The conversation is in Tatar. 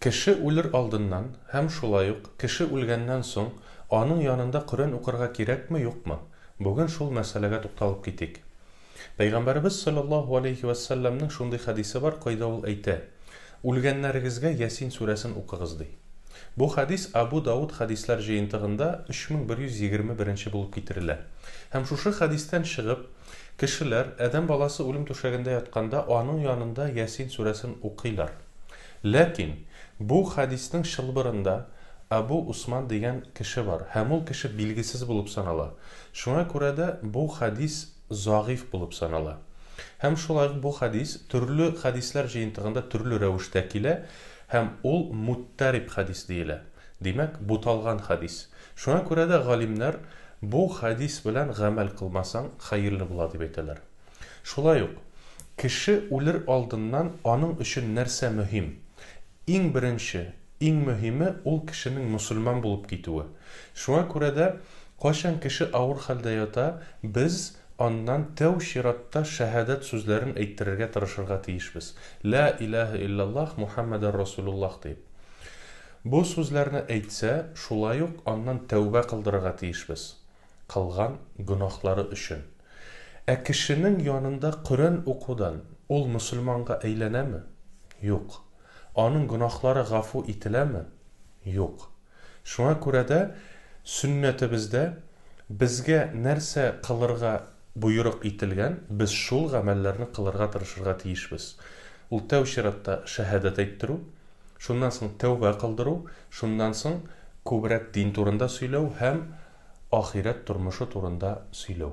Кеше үлер алдыннан һәм шулай ук кеше үлгәннән соң аның янында Коръән укырга кирәкме, юкмы? Бүген шул мәсьәләгә тукталып китик. Пәйгамбәребез салләллаһу галәйһи вә сәлләмнең шундый хәдисе бар, кайда ул әйтә, Үлгәннәрегезгә Ясин сүрәсен укыгыз, ди. Бу хәдис Абу Дауд хәдисләр җыентыгында 3121 нче булып китерелә. Һәм шушы хәдистән чыгып, Кешеләр, адәм баласы үлем түшәгендә ятканда, аның янында Ясин сүрәсен укыйлар. Ләкин бу хәдиснең чылбырында Әбу Усман дигән кеше бар һәм ул кеше билгесез булып санала. Шуңа күрә дә бу хәдис зәгыйфь булып санала. Һәм шулай ук бу хәдис төрле хәдисләр җыентыгында төрле рәвештә килә һәм ул муттәриб хәдис диелә. Димәк, буталган хәдис. Шуңа күрә дә галимнәр бу хәдис белән гамәл кылмасаң, хәерле була, дип әйтәләр. Шулай ук, кеше үлер алдыннан аның өчен нәрсә мөһим? Иң беренче, иң мөһиме, ул кешенең мөселман булып китүе. Шуңа күрә дә, кайчан кеше авыр хәлдә ята, без аннан тәү чиратта шәһадәт сүзләрен әйттерергә тырышырга тиешбез, Лә илаһә илляллаһ Мухәммәдәр Расулуллаһ диеп. Бу сүзләрне әйтсә, шулай ук аннан тәүбә кылдырырга тиешбез, кылган гөнаһлары өчен. Ә кешенең янында Коръән укудан ул мөселманга әйләнәме? Юк. Аның гөнаһлары гафу ителәме? Юк. Шуңа күрә дә Сөннәтебездә безгә нәрсә кылырга боерык ителгән, без шул гамәлләрне кылырга тырышырга тиешбез. Ул тәү чиратта шәһадәт әйттерү, Шуннан соң тәүбә кылдыру, шуннан соң күбрәк дин турында сөйләү һәм ахирәт тормышы турында сөйләү.